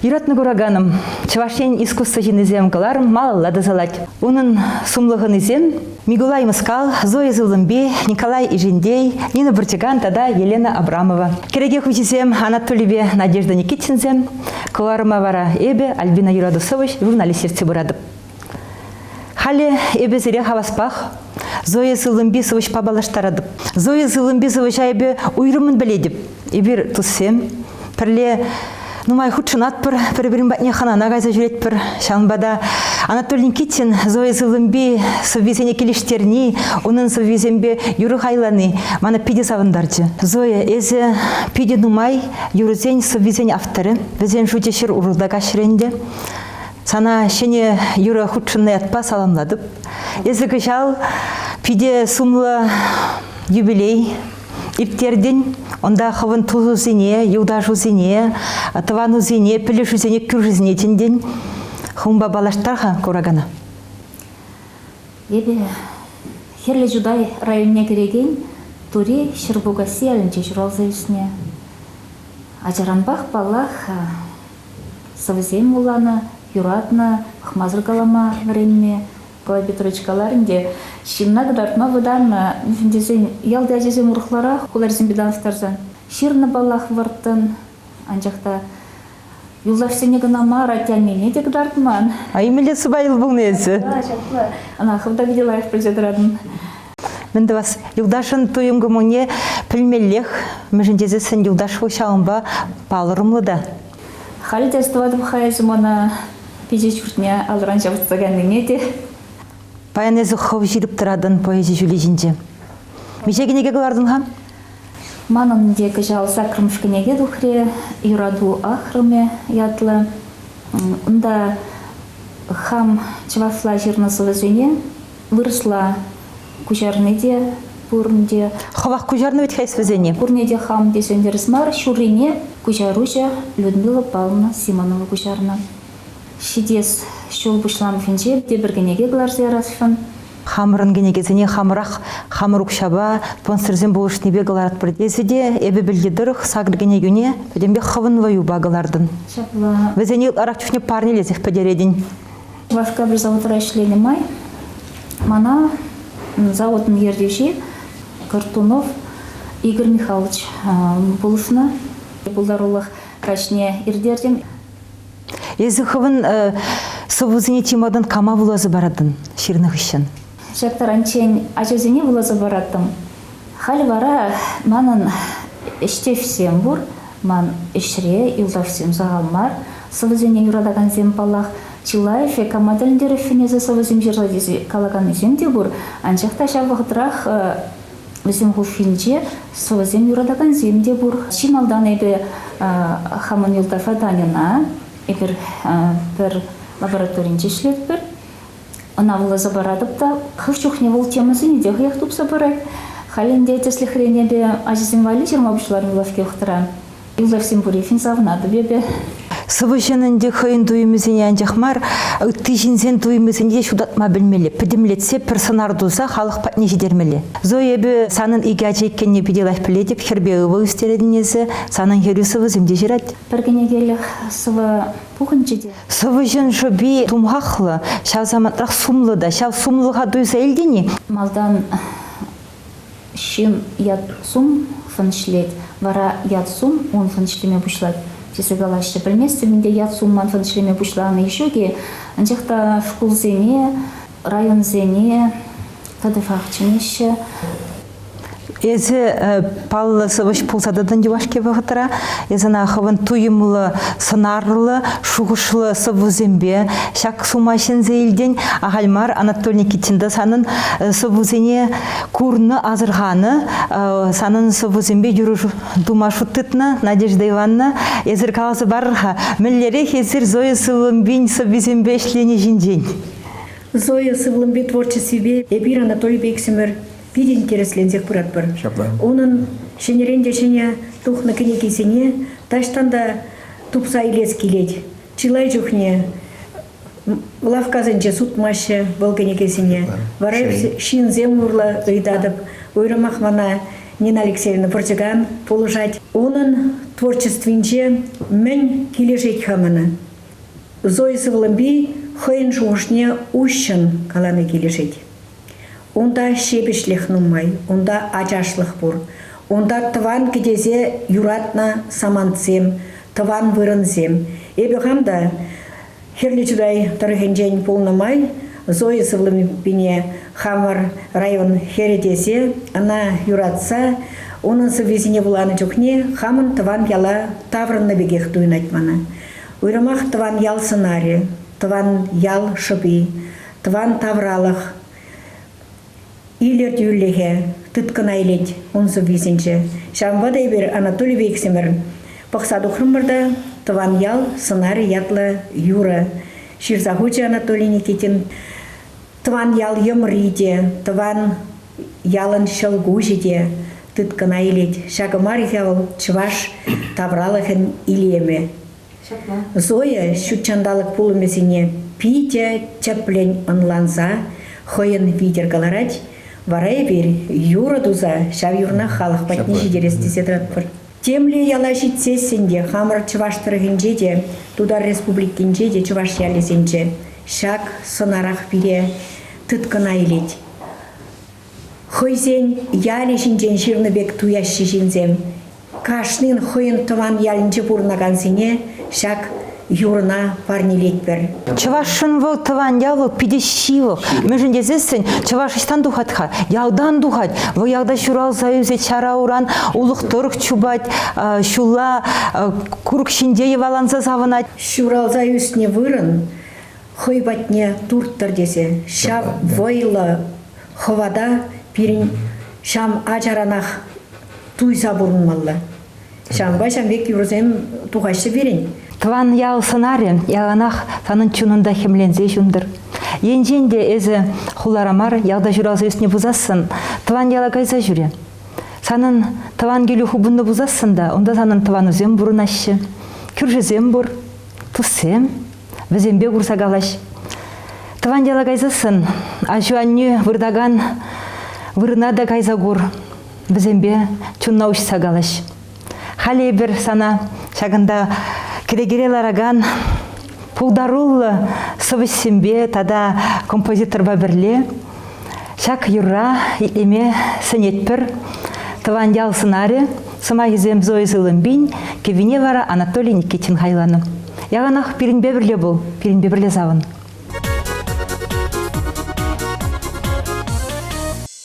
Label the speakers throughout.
Speaker 1: Юратнӑ кураканӑм, Чӑваш Ен искусство ҫыннисем кӑларӑм малалла тӑсӑлать. Унӑн сумлӑ хӑнисем Микулай Мускал, Зоя Зулӑмби, Николай Ижендей, Нина Бортикан тата Елена Абрамова. Кӗреке хуҫисем Анатолипе Надежда Никитинсем, кӑларӑма вара эпӗ, Альбина Юрадусович, журналист ертсе пыратӑп. Халӗ эпӗ сире хаваспах Зоя Сылӑмпи сӑвӑҫпа паллаштаратӑп. Зоя Сылӑмпи сӑвӑҫа эпӗ уйрӑммӑн пӗлетӗп. Эпир, туссем, пӗрле нумай хутшӑнатпӑр, пӗр-пӗрин патне хӑнана кайса ҫӳретпӗр. Ҫавӑнпа та Анатолий Никитин Зоя Сылӑмпи сӑввисене килӗштерни, унӑн сӑввисемпе юрӑ хайлани мана питӗ савӑнтарчӗ. Зоя, эсӗ питӗ нумай юрӑсен, сӑввисен авторӗ. Вӗсен шучӗ ҫӗр урлӑ та каҫрӗ ӗнтӗ. Сана ҫӗнӗ юрӑ хутшӑннӑ ятпа саламлатӑп. Эсӗ кӑҫал питӗ сумлӑ юбилей ирттертӗн. Унта хӑвӑн тусусене, юлташусене, тӑванусене, пӗлӗшӳсене, кӳршисене чӗнтӗн. Хӑвӑнпа паллаштар-ха куракана.
Speaker 2: Эпӗ Хӗрлӗ Чутай районне кӗрекен Тури Ҫӗрпукасси ялӗнче ҫуралса ӳснӗ. Ачаранпах, паллах, Сӑвӑсем вуланӑ, юратнӑ, хӑмасӑр калама вӗренме Клавья Петрович каларӗ те ҫынна кӑтартма вӑтаннӑ, мӗншӗн тесен ялти ачасем урӑхларах хуларисемпе танлаштарсан. Ҫырнӑ, паллах, вӑрттӑн, анчах та юлташсене кӑна мар, атте-аннене те кӑтартман. А имӗнле сӑпайлӑ
Speaker 1: пулнӑ эсӗ? Да, ҫапла.
Speaker 2: Ӑна хӑвта питӗ лайӑх пӗлсе тӑратӑн. Мӗн
Speaker 1: тӑвас, юлташӑн туйӑм кӑмӑлне пӗлмеллех, мӗншӗн тесессӗн юлташ вӑл ҫавӑнпа палӑрӑмлӑ та. Халӗ те
Speaker 2: астӑватӑп-ха эсӗ мана пичӗ ҫуртне алран ҫавӑртса кайнине те. Паян
Speaker 1: эсӗ хӑв ҫирӗп тӑратӑн поэзи ҫули ҫинче. Миҫе кӗнеке кӑлартӑн-ха? Манӑн
Speaker 2: те кӑҫал саккӑрмӗш кӗнеке тухрӗ, Юрату ахрӑмӗ ятлӑ. Унта хам чӑвашла ҫырнӑ сӑвӑсене вырӑсла куҫарни те пурне хӑвах куҫарнӑ
Speaker 1: вӗт-ха эс вӗсене пурне те хам тесен
Speaker 2: тӗрӗс мар ҫуррине куҫаруҫӑ Людмила Павловна Симонова куҫарнӑ ҫитес ҫул пуҫланхинче те пӗр кӗнеке кӑларса ярасшӑн хамӑрӑн
Speaker 1: кӗнекесене хамӑрах хамӑр укҫапа спонсорсем пулӑшнипе кӑларатпӑр тесе те эпӗ пӗлтӗ тӑрӑх сакӑр кӗнекӳне пӗтӗмпех хӑвӑн вӑюпа кӑлартӑн ҫапла вӗсене
Speaker 2: ытларах чухне
Speaker 1: парнелесех пӗтеретӗн Вашкабель
Speaker 2: заводра ӗҫленӗ май мана заводӑн ертӳҫи Картунов Игорь Михайлович пулӑшнӑ. Пултарулӑх каҫне ирттертӗм.
Speaker 1: Эсӗ хӑвӑн сӑвӑсене темӑран кама вуласа паратӑн ҫырнӑ хыҫҫӑн? Ҫак таранччен
Speaker 2: ачасене вуласа параттӑм. Халь вара манӑн ӗҫтешсем пур. Ман ӗҫре юлташсем сахал мар. Сӑвӑсене юратакансем, паллах, чылай. Кама тӗлӗнтерессӗн эсӗ сӑвӑсем ҫырса тесе калаканнисем те пур. Анчах та ҫав вӑхӑтрах вӗсем хушшинче сӑвӑсем юратакансем те пур. Чи малтан эпӗ хамӑн юлташа Таньӑна, эпир пӗр лабораторинче ӗҫлетпӗр. Ӑна вуласа паратӑп та хӑш чухне вӑл темӑсене те хӑях тупса парать. Халь ӗнтӗ тӗслӗхрен эпӗ ачасем валли ҫырма пуҫларӑм вилавкке ухтӑра. Юлдашсем пури финсавнатӑп эпӗ. Сӑвӑҫӑн ӗнтӗ
Speaker 1: хӑйӗн туйӑмӗсене анчах мар, ытти ҫынсен туйӑмӗсене те ҫутатма пӗлмелле, пӗтӗмлетсе пӗр сӑнар туса халӑх патне ҫитермелле. Зоя, эпӗ санӑн икӗ ача иккенне питӗ лайӑх пӗлетӗп, хӗрпе ывӑл ӳстеретӗн эсӗ, санӑн хӗрӳ сӑвӑсем те ҫырать. Пӗр кӗнекелӗх
Speaker 2: сӑвӑ пухӑнчӗ те. Сӑвӑҫӑн шӑпи
Speaker 1: тумхахлӑ, ҫав самантрах сумлӑ та. Ҫав сумлӑха туйса илтӗн-и? Малтан
Speaker 2: ҫын ят-сум ҫӗҫлет, вара ят-сум уншӑн ӗҫлеме пуҫлать, тесе калаҫҫӗ. Пӗлместӗп ӗнтӗ, ят-сум маншӑн ӗҫлеме пуҫланӑ-и ҫук-и, анчах та шкулсене районсене тӑтӑшах чӗнеҫҫӗ.
Speaker 1: Эсӗ э, паллӑ сӑвӑҫ пулса тӑтӑн юлашки вӑхӑтра. Эсӗ ӑна хӑвӑн туйӑмлӑ, сӑнарлӑ, шухӑшлӑ сӑввусемпе ҫак сума ҫӗнсе илтен. Ахаль мар Анатолий Никитин та санӑн э, сӑввусене курнӑ, асӑрханӑ, э, санӑн сӑввусемпе юрӑ тума шут тытнӑ, Надежда Ивановна. Эсир каласа парӑр-ха, мӗнлерех эсир Зоя Сыллӑмбин сӑввисемпе ӗҫлени ҫинчен? Зоя
Speaker 3: сывлӑмри творчествипе эпир Анатолийпе иксӗмӗр питӗ интересленсех пыратпӑр. Ҫапла. Унӑн ҫӗнӗрен те ҫӗнӗ тухнӑ кӗнекисене таҫтан та тупса илес килет. Чылай чухне лавккасенче сутмаҫҫӗ вӑл кӗнекесене. Вара эп ҫынсем урлӑ ыйтатӑп. Уйрӑмах мана Нина Алексеевна Пӑрчӑкан пулӑшать. Унӑн творчествинче мӗн килӗшет-ха мана? Зоя сывлӑмпи хӑйӗн шухӑшне уҫҫӑн калани килӗшет. Унта ҫепӗҫлӗх нумай, унта ачашлӑх пур, унта тӑван кӗтесе юратнӑ самантсем, тӑван вырӑнсем. Эпӗ хам та Хӗрлӗ Чутай тӑрӑхӗнчен пулнӑ май Зоя сывлӑмпине хамӑр район хӗрӗ тесе ӑна юратса унӑн сӑввисене вуланӑ чухне хамӑн тӑван яла таврӑннӑ пекех туйӑнать мана. Уйрӑмах тӑван ял сӑнарӗ, тӑван ял шӑпи, тӑван тавралӑх илӗртӳлӗхӗ тыткӑна илет ун сӑввисенче. Ҫавӑнпа та эпир Анатолий Вейксемӗр пӑхса тухрӑмӑр та тӑван ял сӑнарӗ ятлӑ юрӑ ҫырса хучӗ Анатолий Никитин. Тӑван ял йӑмри те, тӑван ялӑн ҫӑл куҫӗ те тыткӑна илет. Ҫакӑ мар ҫав чӑваш тавралӑхӗн илемӗ. Зоя ҫут ҫанталӑк пулӑмӗсене питӗ тӗплӗн ӑнланса хӑйӗн витӗр кӑларать. Вара эпир юрӑ туса ҫав юрна халӑх патне ҫитерес тесе тӑратпӑр. Темле яла ҫитсессӗн те хамӑр чӑваш тӑрӑхӗнче те, Тутар Республикинче те чӑваш ялӗсенче ҫак сӑнарах пире тыткӑна илет. Хӑйсен ялӗ ҫинчен ҫырнӑ пек туяҫҫӗ ҫынсем. Кашнин хӑйӗн тӑван ялӗнче пурӑнакансене ҫак юрӑна парнелетпӗр. Чӑвашшӑн вӑл
Speaker 1: тӑван ял, вӑл питӗ ҫывӑх. Мӗншӗн тесессӗн чӑваш ӑҫтан тухать-ха? Ялтан тухать. Вӑл ялта ҫуралса ӳсет, ҫара уран, улӑх-тӑрӑх чупать, ҫулла курӑк ҫинче йӑваланса савӑнать. Ҫуралса ӳснӗ
Speaker 3: вырӑн хӑй патне турттӑр тесе ҫав вӑйлӑ хӑвата пирӗн ҫам ачаранах туйса пурӑнмалла. Ҫавӑнпа ҫав пек юрӑсем тухаҫҫӗ пирӗн. Тӑван ял
Speaker 1: сӑнарӗ яланах санӑн чунунта хӗмленсе ҫунтӑр. Енчен те эсӗ хулара мар, ялта ҫуралса ӳснӗ пулсассӑн, тӑван яла кайса ҫӳре. Санӑн тӑван килӳ хупӑннӑ пулсассӑн та унта санӑн тӑванусем пурӑнаҫҫӗ. Кӳршӗсем пур, туссем, вӗсемпе курса калаҫ. Тӑван яла кайсассӑн аҫу-аннӳ выртакан вырӑна та кайса кур. вӗсемпе чунна уҫса калаҫ. Халӗ эпир сана ҫакӑнта кӗрекере ларакан пултаруллӑ сӑвӑҫсемпе тата композиторпа пӗрле ҫак юрра име сӗнетпӗр. Тӑван ял сӑнарӗ, сӑмахӗсем Зоя Сылӑмбин, кӗввине вара Анатолий Никитин хайланӑ. Яланах пирӗнпе пӗрле пул, пирӗнпе пӗрле савӑн.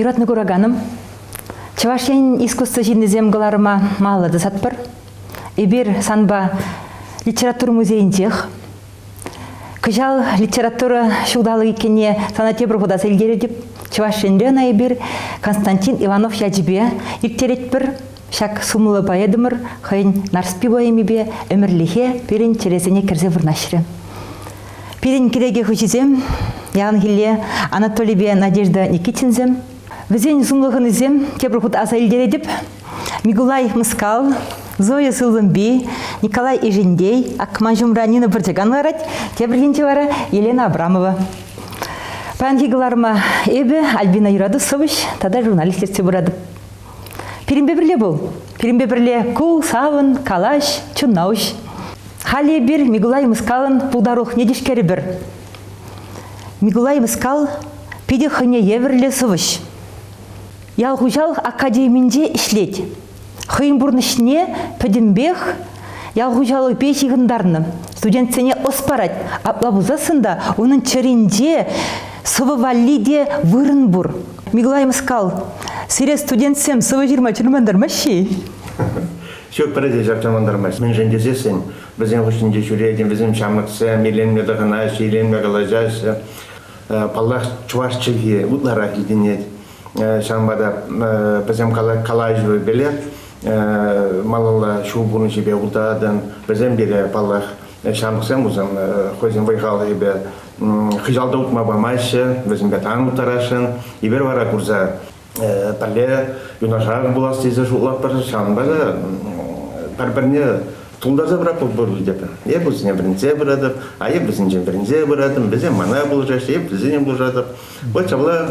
Speaker 1: Юратнӑ кураканӑм, Чӑваш Енӗн искусство ҫыннисем кӑларӑма малалла тӑсатпӑр. Эпир санпа литература музейӗнчех. Кӑҫал литература ҫулталӑк иккенне сана тепӗр хутас илтеретӗп. Чӑваш Енре ӑна эпир Константин Иванов ячӗпе ирттеретпӗр. Ҫак сумлӑ поэтӑмӑр хӑйӗн Нарспи поэмипе ӗмӗрлӗхе пирӗн чӗресене кӗрсе вырнаҫрӗ. Пирӗн кӗнеке хуҫисем яланхилле Анатолийпе Надежда Никитинсем. Вӗсен сумлӑ хӑнисем тепӗр хут аса илтеретӗп. Микулай Мускав, Зоя Сылтӑмпи, Николай Ижендей, акман ҫумра Нина Пӑртикан ларать, тепринче вара Елена Абрамова. Паянхи кӑларӑма эпӗ Альбина Юрадусович тата журналист ертсе пыратӑп. Пирӗнпе пӗрле пул. Пирӗнпе пӗрле кул, савӑн, калаҫ, чунна уҫ. Халӗ эпир Микулай Мускавӑн пултарулӑхне тишкерӗпӗр. Микулай Мускав питӗ хӑйне евӗрлӗ сӑвӑҫ. Ял хуҫалӑх академинче ӗҫлет. Хӑйӗн пурнӑҫне пӗтӗмпех ял хуҫалӑхӗпе ҫыхӑнтарнӑ. Студентсене ӑс парать. Апла пулсассӑн та унӑн чӗринче сӑвӑ валли те вырӑн пур. Миклай Мускал, сире студентсем сӑвӑ ҫырма тӳрмантармаҫҫӗ-и?
Speaker 4: Ҫук, пӗри те чартлантармасть. Мӗншӗн тесессӗн вӗсен хушшинче ҫӳрекен вӗсем ҫамрӑксем иленме тӑхӑнаҫҫӗ, иленме калаҫаҫҫӗ. Паллах, чӑваш чӗлхи ытларах итӗнет. Ҫавӑнпа та вӗсем калаҫӑвӗпеле малалла ҫул пурнӑҫӗпе улталатӑн. Вӗсем пире, паллах, ҫамрӑксем усӑн хӑйсен вӑй-халӑхӗпе хыҫалта утма памаҫҫӗ, вӗсемпе тан уттарасшӑн. Эпир вара курса пӗрле юнашар пулас тесе шутлатпӑр. Ҫавӑнпа та пӗр-пӗрне тултарса пыратпӑр пур витӗр. Эп вӗсене вӗрентсе пыратӑп, а эп вӗсенчен вӗренсе пыратӑп, вӗсем мана пулӑшаҫҫӗ, эп вӗсене пулӑшатӑп. Вӑл ҫапла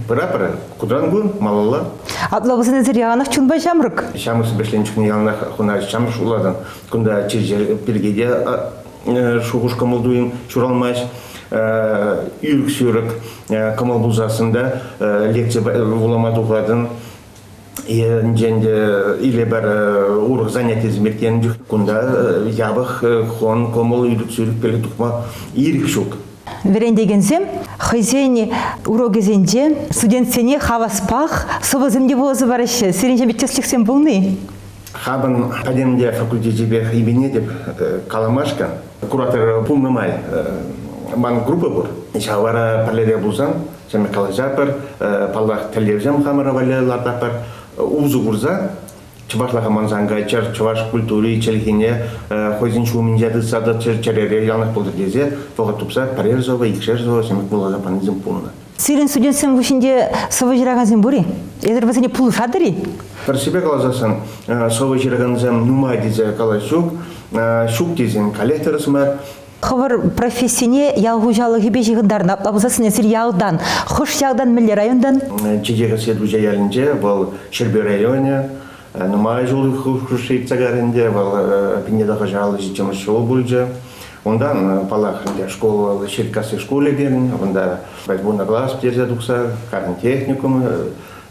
Speaker 4: пыра-пыр, кудран пур, малалла. Атлабасен
Speaker 1: эсир яланах чунпа ҫамрӑк. Ҫамрӑк вӗҫленӗ чухне
Speaker 4: яланах хунар ҫамрӑк шутлатӑн. Кунта чир пирки те шухӑш кӑмӑл туйӑм ҫуралмасть. Ӳрӗк-сӳрӗк кӑмӑл пулсассӑн та лекци вулама тухатӑн. Енчен те илепер урӑх занятисем ирткен чух кунта япӑх хон кӑмӑл ирӗк тухма ирӗк ҫук.
Speaker 1: Вӗрентекенсем хӑйсен урокӗсенче студентсене хаваспах сӑвӑсем те вуласа параҫҫӗ. Сирӗншӗн пит тӗслӗхсем пулни? Хапӑн
Speaker 4: пӗтӗмле факультечӗпех именетӗп каламашкӑн. Куратор пулнӑ май ман группа пур. Ҫав вара пӗрлере пулсан Ҫӗнӗ калаҫатпӑр, паллах, тӗллевсем хамӑра валли лартатпӑр. Усӑ курса чӑвашла хамансан кайччӑр, чӑваш культури чӗлхине хӑйсен ҫумӗнче тытса та чӗрере янах пултӑр тесе вӑхӑт тупса пӗрер сӑвӑ, икшер сӑвӑ ҫӗмӗк вуласа панисем пулнӑ. Сирӗн студентсем
Speaker 1: пуҫӗнче сӑвӑ ҫыракансем пур-и? Эсир вӗсене пулӑшатӑр-и? Пӗрчипе
Speaker 4: каласассӑн, сӑвӑ ҫыракансем нумай тесе калас ҫук. Ҫук тесен каллех тӑрӑс мар. хӑвӑр
Speaker 1: профессине ял хуҫалӑхӗпе ҫыхӑнтарнӑ. Апла пулсассӑн эсир ялтан, хӑш ялтан, мӗнле районтан? Читерӗ Сетуҫа
Speaker 4: ялӗнче, вӑл Ҫӗрпӳ районӗ. Нумай ҫул хушши иртсе кайрӗ вӑл Пинеда хуҫалӑх ҫиччӗмӗш ҫул пулчӗ. Унтан, паллах, ӗнтӗ школ, Ҫыркасси шкулӗ пирӗн, унта Бальбуна класс персе тухса карантехникум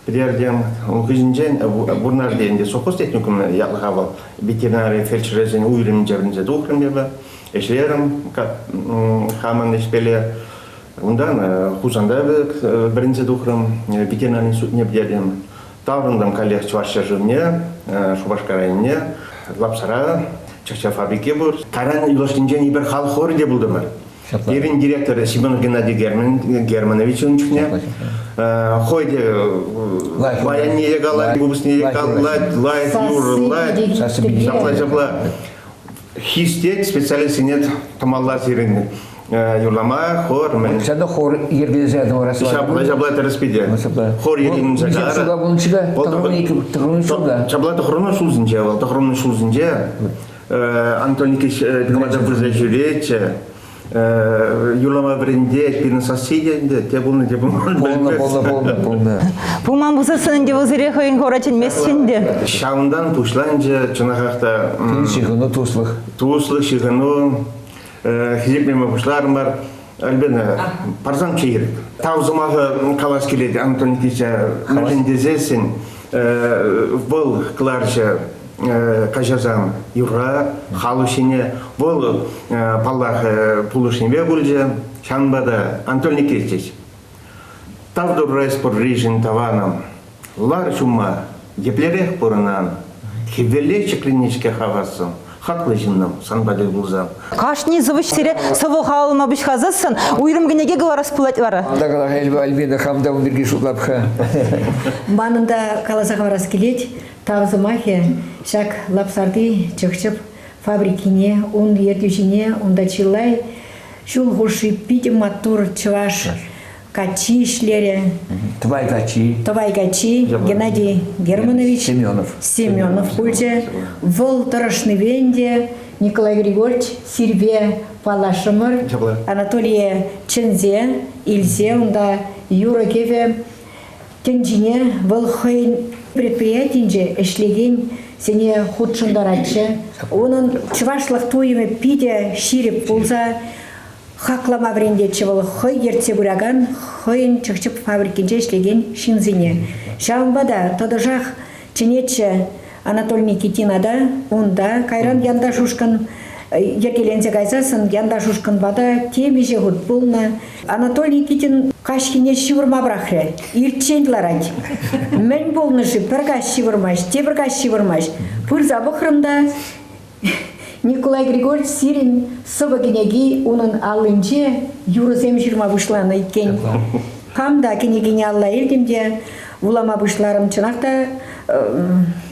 Speaker 4: Пӗтертӗм. Ун хыҫӗнчен Вурнарти ӗнтӗ совхоз техникумӗ ятлӑха вӑл ветеринари фельдшерӗсен уйрӑмӗнче вӗренсе тухрӑм эпӗ. Ӗҫлерӗм хамӑн ӗҫпеле. Унтан Хусанта вӗренсе тухрӑм, ветеринари судне пӗтертӗм. Таврӑнтӑм каллех Чӑваш ҫӗршывне, Шупашкар районне. Лапсара чахча фабрики пур. Таран юлашкинчен эпир хал хорӗ те пултӑмӑр. Ҫапла. Пирӗн директор Семен Геннадий Германович ун чухне хой те баянне лекалать, губусне лекалать, лайт юр, лайт. Ҫапла, ҫапла. Хистет, специалистсене тӑмалла сирӗн юрлама хор мӗн. Ҫавна хор йӗркелесе
Speaker 5: ятӑмӑрас. Ҫапла, ҫапла тӗрӗспете.
Speaker 4: Хор йӗркин шагара. Ҫапла пулчӗ, тӑхрӑнни
Speaker 5: тӑхрӑнни шурда.
Speaker 4: Ҫапла тӑхрӑннӑ шурсенче, вӑл тӑхрӑннӑ шурсенче Антон Никитич пирӗн ача пырса ҫӳретчӗ. Юрлама вӗренте пирӗн сасси те ӗнтӗ те пулнӑ те пулман. Пулнӑ, пулнӑ, пулнӑ, пулнӑ.
Speaker 5: Пулман
Speaker 1: пулсассӑн ӗнтӗ вӑл сире хӑйӗн хора чӗнмест ӗнтӗ. Ҫавӑнтан
Speaker 4: пуҫланчӗ чӑнахах та. Ҫыхӑну туслӑх.
Speaker 5: Туслӑх ҫыхӑну.
Speaker 4: хисеплеме пуҫларӑмӑр. Альбина, парсан кир. Тав сӑмахы калас килет, Антон Никитича, мӗн тесессӗн, вӑл кӑларчӗ каҫасан юрра, халӑхҫине вӑл, паллах, пулӑшнипе пулчӗ. Ҫавӑнпа та, Антон Никитич, Тав Турра эс пурришӗн, тӑванӑм. Лар ҫума, еплерех пурӑнан? Хӗвеле ҫӗкленичке хавассӑн, хаклӑ ҫыннӑм, санпа тӗл пулсан. Кашни сӑвӑҫ-ҫӗре
Speaker 1: сӑвӑ калама пуҫласассӑн уйрӑм кӗнеке кӑларас пулать вара. Такалах, Альбина,
Speaker 5: хам та ун пирки шутлап-ха. Манӑн
Speaker 3: та каласа хӑварас килет, тав сӑмахӗ ҫак лапсарти чӑх-чӗп фабрикине, ун ертӳҫине унта чылай ҫул хушши питӗ маттур чӑваш каччи ӗҫлерӗ. Тӑвай каччи.
Speaker 5: Тӑвай каччи Геннадий
Speaker 3: Германович Семенов. Семенов пулчӗ. Вӑл тӑрӑшнипен те Николай Григорьевич сирпе паллашрӑмӑр. Анатолие чӗнсе илсе унта юрӑ-кӗвӗ Тӗнчине вӑл хӑйӗн предприятинче ӗҫлекенсене хутшӑнтаратчӗ. Унӑн чӑвашлӑх туйӑмӗ питӗ ҫирӗп пулса хаклама вӗрентетчӗ вӑл хӑй ертсе пыракан хӑйӗн чӑх-чӗп фабрикинче ӗҫлекен ҫынсене. Ҫавӑнпа та тӑтӑшах Чӗнетчӗ Анатолий Никитина та. Унта кайран янташ ушкӑн йӗркеленсе кайсассӑн янташ ушкӑнпа та темиҫе хут пулнӑ. Анатолий Никитин каҫхине ҫывӑрма пӑрахрӗ. Ирччен ларать. Мӗн пулнӑ-ши? Пӗр каҫ ҫывӑрмасть, тепӗр каҫ ҫывӑрмасть. Пырса пӑхрӑм та Николай Григорьевич сирӗн сӑвӑ кӗнеки унӑн аллинче юрӑсем ҫырма пуҫланӑ иккен. Хам та кӗнекене алла илтӗм те вулама пуҫларӑм. Чӑнах та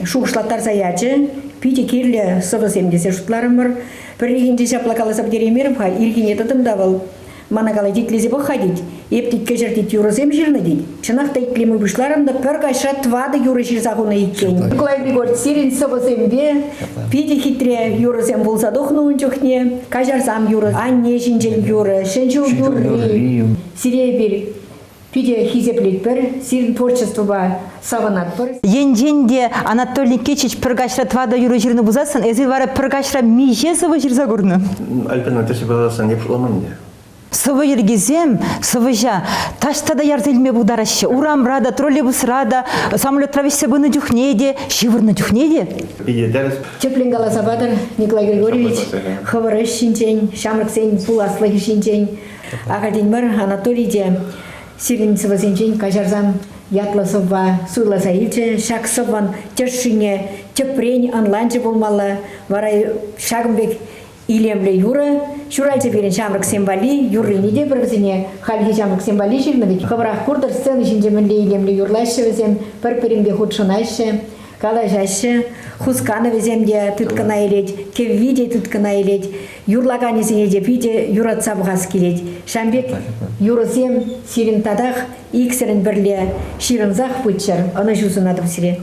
Speaker 3: шухӑшлаттарса ячӗ. Питӗ кирлӗ сӑвӑсем тесе шутларӑмӑр. Пӗррехинче ҫапла каласа пӗтереймерӗм-ха, ирхине тӑтӑм та вӑл Мана кала итлесе пӑх-ха тет. Эп тет кӗҫӗр тет юрӑсем ҫырнӑ тет. Чӑнах та итлеме пуҫларӑм та пӗр каҫра тӑватӑ юрӑ ҫырса хунӑ иккен. Николай Григорьевич сирӗн сӑвӑсемпе питӗ хитре юрӑсем пулса тухнӑ ун чухне. Каҫарсам юрӑ, анне ҫинчен юрӑ, ҫӗн ҫул юрри. Сире эпир Питӗ хисеплетпӗр, сирӗн творчествӑпа савӑнатпӑр. Енчен те
Speaker 1: Анатолий Никитич пӗр каҫра тӑватӑ юрӑ ҫырнӑ пулсассӑн, эсир вара пӗр каҫра миҫе
Speaker 4: сӑвӑ
Speaker 1: ҫырса
Speaker 4: курнӑ?
Speaker 1: Альбина, тесе каласан эп
Speaker 4: шуламан
Speaker 1: те. Сӑвӑ йӗркисем сӑвӑҫа таҫта та ярса илме пултараҫҫӗ. Урамра та, троллейбусра та, самолетра вӗҫсе пынӑ чухне те, ҫывӑрнӑ чухне те. Питӗ тӗрӗс.
Speaker 4: Тӗплӗн каласа патӑр,
Speaker 3: Николай Григорьевич, хӑвӑр ӗҫ ҫинчен, ҫамрӑксен пуласлӑхӗ ҫинчен Ахальтен мар Анатолий те сирӗн сӑвӑсенчен каҫарсан ятлӑ сӑвва суйласа илчӗ. Ҫак сӑввӑн тӗшшине тӗпрен ӑнланчӗ пулмалла. Вара ҫакӑн пек илемлӗ юрӑ ҫуралчӗ пирӗн ҫамрӑксем валли. Юррине те пӗр вӗсене хальхи ҫамрӑксем валли ҫырнӑ вӗт. Хӑвӑрах куртӑр сцена ҫинче мӗнле илемлӗ юрлаҫҫӗ вӗсем, пӗр-пӗринпе хутшӑнаҫҫӗ, калаҫаҫҫӗ. Хусканӑвӗсем те тыткӑна илет, кӗвви те тыткӑна илет. Юрлаканӗсене те питӗ юратса пӑхас килет. Ҫавӑн пек юрӑсем сирӗн татах иксӗрӗн пӗрле ҫырӑнсах пыччӑр, ӑнӑҫу сунатӑп сире.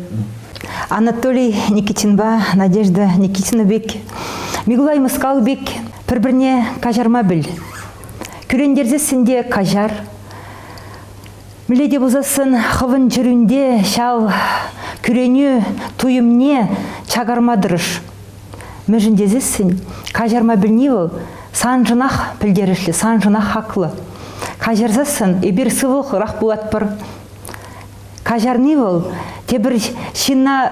Speaker 3: Анатолий
Speaker 1: Никитинпа Надежда Никитина пек, Микулай Мыскал пек пӗр-пӗрне каҫарма пӗл. Кӳрентерсессӗн те каҫар. Мӗнле те пулсассӑн хӑвӑн чӗрӳнде ҫав кӳренӳ туйӑмне чакарма тӑрӑш. Мӗншӗн тесессӗн каҫарма пӗлни вӑл саншӑнах пӗлтерӗшлӗ, саншӑнах хаклӑ. Каҫарсассӑн эпир сывлӑхлӑрах пулатпӑр. Каҫарни вӑл тепӗр ҫынна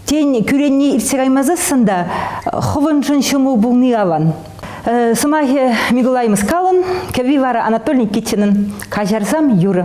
Speaker 1: тен кӳренни иртсе каймасассӑн та хӑвӑншӑн ҫӑмӑл пулни аван. Сӑмахӗ Микулай Мыскалӑн, кӗвви вара Анатолий Никитинӑн «Каҫарсам юрӑ».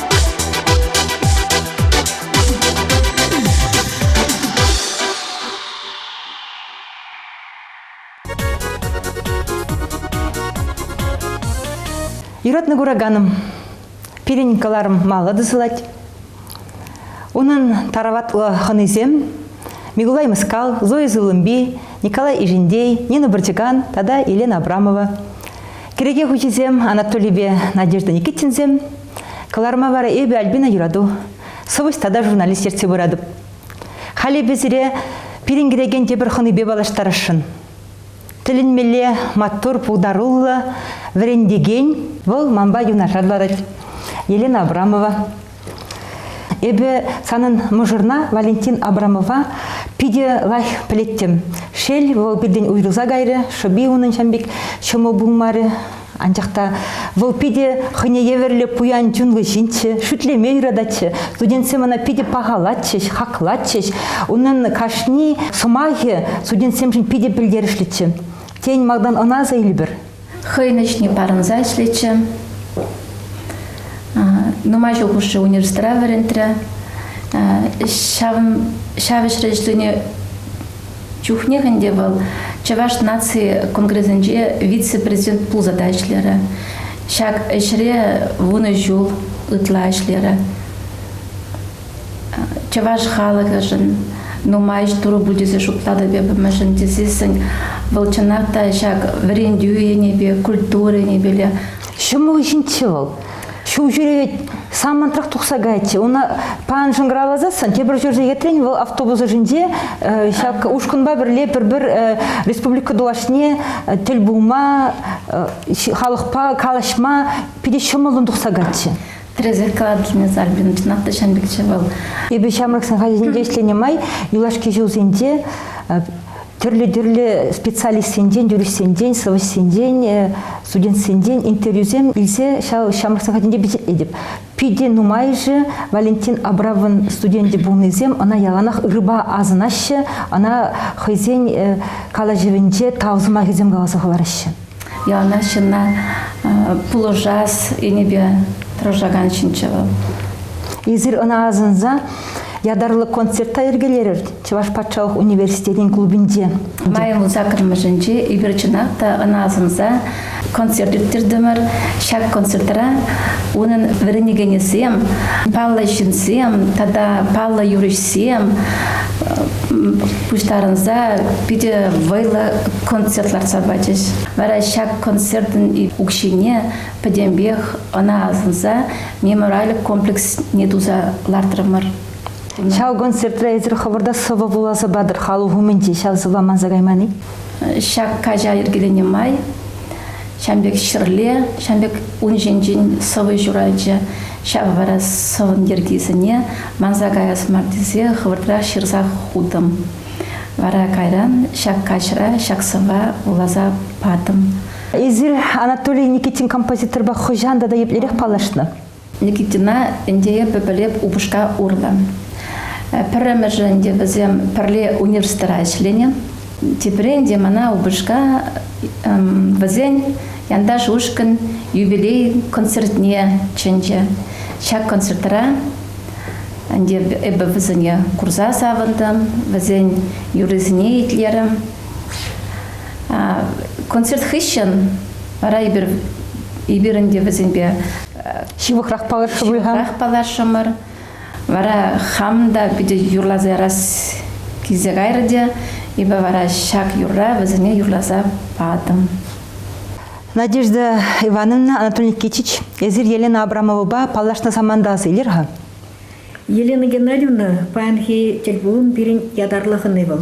Speaker 1: Юратнӑ кураканӑм, пирӗн каларӑм мала тӑсӑлать. Унӑн тараватлӑ хӑнисем Микулай Мыскал, Зоя Зулымби, Николай Ижендей, Нина Бортикан тата Елена Абрамова, кӗреке хуҫисем Анатолийпе Надежда Никитинсем Кӑларма вара эпӗ Альбина юрату, сӑвӑҫ тата журналист ертсе пыратӑп. Халӗ эпӗ сире пирӗн кӗрекен тепӗр хӑнипе паллаштарасшӑн. Тӗлӗнмелле маттур, пултаруллӑ, вӗрентекен вӑл манпа юнашар ларать. Елена Абрамова. Эпӗ санӑн мӑшӑрна Валентин Абрамова питӗ лайӑх пӗлеттӗм. Шел, вӑл пиртен уйрӑлса кайрӗ, шӑпи унӑн ҫам пек ҫӑмӑл пулмарӗ. Анчах та вӑл питӗ хӑйне евӗрлӗ пуян чунлӑ ҫынччӗ, шӳтлеме юрататчӗ. Студентсем ӑна питӗ пахалатчӗҫ, хаклатчӗҫ. Унӑн кашни сӑмахӗ студентсемшӗн питӗ пӗлтерӗшлӗччӗ. Тен, малтан ӑна аса илӗпӗр? Хӑйӗн ӗҫне
Speaker 6: парӑнса ӗҫлетчӗ. Нумай ҫул хушши университетра вӗрентрӗ. Ҫав ҫав ӗҫре ӗҫлеме Чухнех ӗнтӗ вӑл Чӑваш наци конгресӗнче вице-президент пулса та ӗҫлерӗ. Ҫак ӗҫре вунӑ ҫул ытла ӗҫлерӗ. Чӑваш халӑхӗшӗн нумай ӗҫ турӑ пуль тесе шутлатӑп эпӗ, мӗншӗн тесессӗн вӑл чӑнах та ҫак вӗрентӳ енӗпе, культура енӗпе ҫӑмӑл
Speaker 1: ҫынччӗ вӑл. ҫул ҫӳрет. Самантрах тухса кайчӗ. Ӑна паян шӑнкӑравласассӑн тепӗр ҫӗрсе етрен вӑл автобус ӑшӗнче э, ҫак ушкӑнпа пӗрле пӗр-пӗр э, республика тулашне э, тӗл пулма, халӑхпа калаҫма питӗ ҫӑмӑллӑн тухса кайчӗ. Трезер кладкине
Speaker 6: Зарбин чӑнах ҫан пекчӗ вӑл. Эпӗ ҫамрӑксен
Speaker 1: хаҫатӗнче ӗҫленӗ май юлашки ҫулсенче тӗрлӗ-тӗрлӗ специалистсенчен, юристсенчен, сӑвӑҫсенчен, студентсенчен интервьюсем илсе ҫав ҫамрӑк сахатӗнче пичетлетӗп. Питӗ нумайӑшӗ Валентин Абрамовӑн студенчӗ пулнисем ӑна яланах ырӑпа асӑнаҫҫӗ, ӑна хӑйсен калаҫӑвӗнче тав сӑмахӗсем каласа хӑвараҫҫӗ. Ӑна ҫынна
Speaker 6: пулӑшас енӗпе тӑрӑшакан ҫынччӗ вӑл. Эсир
Speaker 1: ӑна асӑнса ятарлӑ концерт та йӗркелерӗр Чӑваш патшалӑх университетӗн клубӗнче. Майӑн вӑл
Speaker 6: саккӑрмӗшӗнче эпир чӑнах та ӑна асӑнса концерт ирттертӗмӗр. Ҫак концертра унӑн вӗренекенӗсем, паллӑ ҫынсем тата паллӑ юрӑҫсем пуҫтарӑнса питӗ вӑйлӑ концерт лартса пачӗҫ. Вара ҫак концертӑн укҫине пӗтӗмпех ӑна асӑнса мемориаль комплексне туса лартрӑмӑр. Ҫав
Speaker 1: концертра эсир хӑвӑрта сӑвӑ вуласа патӑр халӑх умӗнче ҫав сӑвва манса кайман-и? Ҫак
Speaker 6: каҫа йӗркеленӗ май ҫам пек ҫӗрле, ҫам пек ун ҫинчен сӑвӑ ҫуралчӗ. Ҫав вара сӑвӑн йӗркисене манса каяс мар тесе хӑвӑртрах ҫырса хутӑм. Вара кайран ҫак каҫра ҫак сӑвва вуласа патӑм. Эсир
Speaker 1: Анатолий Никитин композиторпа хӑҫан тата еплерех паллашнӑ? Никитина
Speaker 6: ӗнтӗ эпӗ пӗлеп упӑшка урлӑ. Пӗрремӗшӗ ӗнтӗ вӗсем пӗрле университетра ӗҫленӗ. Тепре ӗнтӗ мана упӑшка вӗсен Янташ ушкӑн юбилей концертне чӗнчӗ. Ҫак концертра Ӗнтӗ эпӗ вӗсене курса савӑнтӑм, вӗсен юррисене итлерӗм. Концерт хыҫҫӑн вара эпир эпир ӗнтӗ вӗсемпе ҫывӑхрах
Speaker 1: паллашрӑм пуль-ха. Ҫывӑхрах паллашрӑмӑр.
Speaker 6: Вара хам та питӗ юрласа ярас килсе кайрӗ те эпӗ вара ҫак юрра вӗсене юрласа патӑм.
Speaker 1: Надежда Ивановна Анатолий Никитич, эсир Елена Абрамовӑпа паллашнӑ самантас илер-ха. Елена
Speaker 3: Геннадьевна паянхи тӗлпулу пирӗн ятарлӑ хӑни вӑл.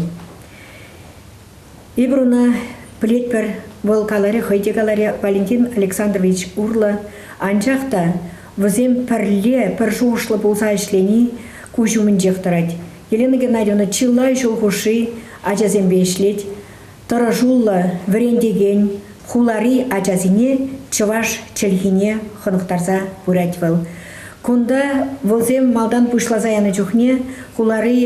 Speaker 3: Эпир уна пӗлетпӗр, вӑл каларӗ хӑй те каларӗ Валентин Александрович урлӑ, анчах та вӗсем пӗрле пӗр шухӑшлӑ пулса ӗҫлени куҫ умӗнчех тӑрать. Елена Геннадьевна чылай ҫул хушши ачасемпе ӗҫлет. тӑрӑшуллӑ вӗрентекен, хулари ачасене чӑваш чӗлхине хӑнӑхтарса пырать вӑл. Кунта вӑлсем малтан пуҫласа янӑ чухне хулари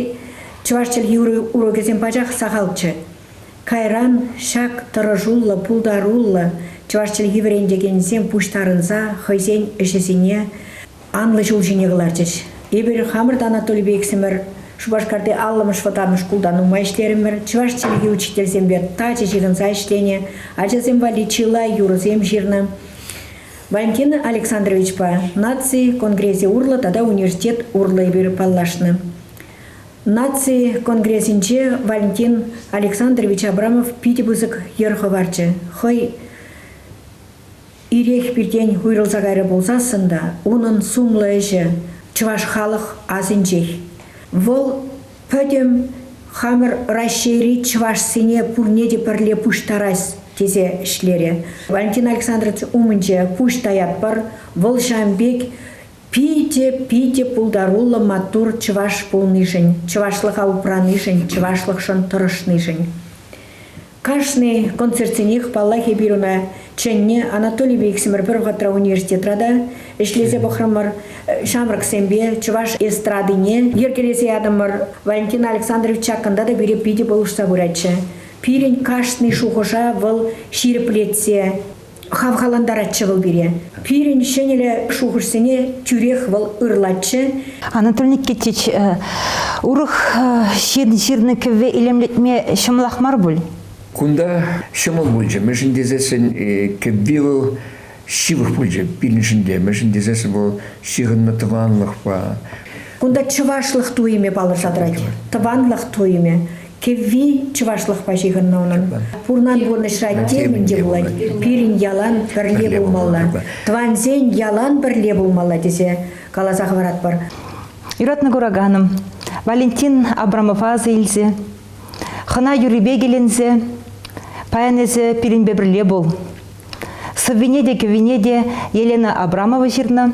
Speaker 3: чӑваш чӗлхи урокӗсем пачах сахалччӗ. Кайран ҫак тӑрӑшуллӑ, пултаруллӑ чӑваш чӗлхи вӗрентекенӗсем пуҫтарӑнса хӑйсен ӗҫӗсене анлӑ ҫул ҫине кӑларчӗҫ. Эпир хамӑр та Анатолий Бексимӗр Шупашкарти аллӑмӗш вӑтамӗш шкулта нумай ӗҫлерӗмӗр. Чӑваш чӗлхи учительсемпе тачӑ ҫыхӑнса ӗҫленӗ, ачасем валли чылай юрӑсем ҫырнӑ. Валентина Александровичпа наци конгресӗ урлӑ тата университет урлӑ эпир паллашнӑ. Наци конгресӗнче Валентин Александрович Абрамов питӗ пысӑк йӗр хӑварчӗ. Хӑй Ирех пиртен уйрӑлса кайрӗ пулсассӑн та унӑн сумлӑ ӗҫӗ чӑваш халӑх асӗнчех. Вӑл пӗтӗм хамӑр Раҫҫейри чӑвашсене пурне те пӗрле пуҫтарас тесе ӗҫлерӗ. Валентин Александрович умӗнче пуҫ таятпӑр. Вӑл ҫавӑн пек питӗ питӗ пултаруллӑ маттур чӑваш пулнишӗн, чӑвашлӑха упранишӗн, чӑвашлӑхшӑн тӑрӑшнишӗн. Кашни концертинех, паллах, эпир ӑна чӗннӗ. Анатолий Вейксӗмӗр пӗр вӑхӑтра университетра та ӗҫлесе пӑхрӑмӑр. Ҫамрӑксемпе чӑваш эстрадине йӗркелесе ятӑмӑр. Валентина Александрович Чаккӑнта та пире питӗ пулӑшса пыратчӗ. Пирӗн кашни шухӑша вӑл ҫирӗплетсе хавхалантаратчӗ вӑл пире. Пирӗн ҫӗнӗлӗ шухӑшсене тӳрех вӑл ырлатчӗ. Анатолий Никитич,
Speaker 1: э, урӑх э, ҫын ҫырнӑ кӗвве илемлетме ҫӑмлах мар пуль? Кунта
Speaker 5: ҫӑмӑл пулчӗ, мӗншӗн тесессӗн э, кӗвви вӑл ҫывӑх пулчӗ пирӗншӗн те, мӗншӗн тесессӗн вӑл ҫыхӑннӑ тӑванлӑхпа. Кунта
Speaker 3: чӑвашлӑх туйӑмӗ палӑрса тӑрать. Тӑванлӑх туйӑмӗ. Кӗвви чӑвашлӑхпа ҫыхӑннӑ унӑн. Пурнан пурнӑҫра темӗн те пулать. Пирӗн ялан пӗрле пулмалла. Тӑвансен ялан пӗрле пулмалла тесе каласа хӑваратпӑр. Юратнӑ
Speaker 1: кураканӑм Валентин Абрамова аса илсе, хӑна юррипе киленсе, паян эсӗ пирӗнпе пӗрле пул сӑввине те, кӗввине те Елена Абрамова ҫырнӑ.